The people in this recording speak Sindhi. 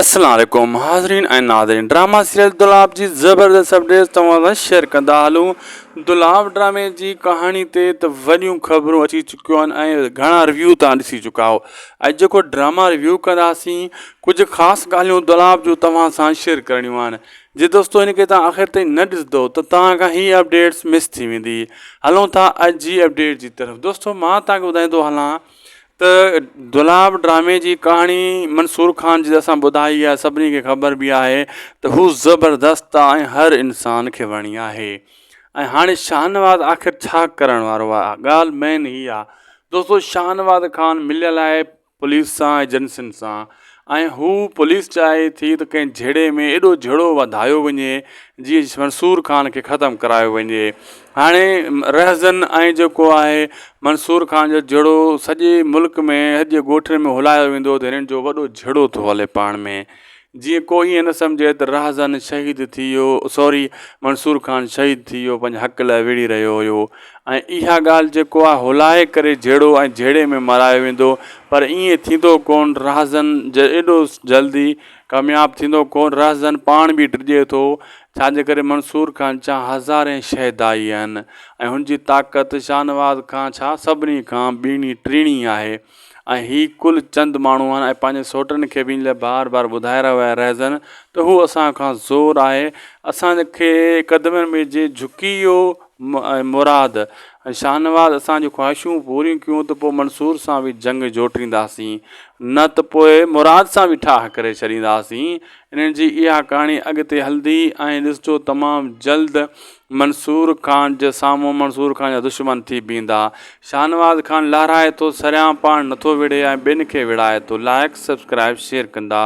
اسلام عليڪم حاضرين ۽ ناظرين ڊراما سيريل دولاب جي زبردست اپڊيٽس توهان سان شيئر ڪندا هلون دولاب ڊرامي جي ڪهاڻي تي ته وڏيون خبرون اچي چڪيون آهن ۽ گهڻا ريويو توهان ڏسي چڪا آهو اڄ جيڪو ڊراما ريويو ڪنداسين ڪجهه خاص ڳالهيون دولاب جو توهان سان شيئر ڪرڻيون آهن جي دوستو ان کي توهان آخر تائين نه ڏسندو ته توهان کان هي اپڊيٽس مس ٿي ويندي هلون ٿا اڄ جي اپڊيٽ جي طرف دوستو مان توهان کي ٻڌائيندو هلان ته دولاب ڊرامي جي ڪهاڻي منصور خان جي اسان ٻڌائي آهي سڀني کي خبر به آهي ته هو زبردست آهي ۽ هر انسان کي وڻي آهي ۽ هاڻي شاهنواز آخر ڇا ڪرڻ وارو آهي ڳالهه مين هي آهي دوستو شاهنواز خان مليل آهي پوليس سان ايجنسين سان ۽ هو پوليس چاهي ٿي ته ڪنهن جهيڙي ۾ ايڏو جهيڙو وڌايو وڃي جيئن منصور خان کي ختم ڪرايو وڃي هاڻي رهزن ۽ جيڪو آهي منصور خان جو جهيڙو سڄي ملڪ ۾ سڄي ڳوٺن ۾ هلايو ويندو ته هنن جو وڏو جهيڙو ٿو هلي پاڻ ۾ جيئن کو ائين نه سمجهي ته رهزن شهيد ٿي ويو سوري منصور خان شهيد ٿي ويو پنهنجي حق لاء وڙهي رهيو هيو ۽ اها ڳالهه جيڪو آ هولائي ڪري جهيڙو ۽ جهيڙي ۾ مرايو ويندو پر ائين ٿيندو ڪون رهزن ايڏو جلدي ڪامياب ٿيندو ڪون رهزن پاڻ به ڊڄي ٿو ڇا جي ڪري منصور خان ڇا هزارين شهدائي آهن ۽ هن جي طاقت شاهنواز کان ڇا سڀني کان ٻيڻي ٽيڻي آهي ۽ هي ڪل چند ماڻهو آهن ۽ پنهنجي سوٽن کي به ان لاء بار بار ٻڌائي رهيو آهي رهزن ته هو اسان کان زور آهي اسان کي قدمن ۾ جي جهڪي اهو ۽ مراد ۽ شاهنواز اسان جون خواهشون پوريون ڪيون ته پوء منصور سان به جنگ جوٽينداسين نه ته پوء مراد سان به ٺاهه ڪري ڇڏينداسين انهن جي اها ڪهاڻي اڳتي هلندي ۽ ڏسجو تمام جلد منصور خان جي سامهون منصور خان جا دشمن ٿي بيهندا. شاهنواز خان لهرائي ٿو سريان پاڻ نٿو وڙهي ۽ ٻين کي وڙهائي ٿو لائيڪ سبسڪرائيب شيئر ڪندا.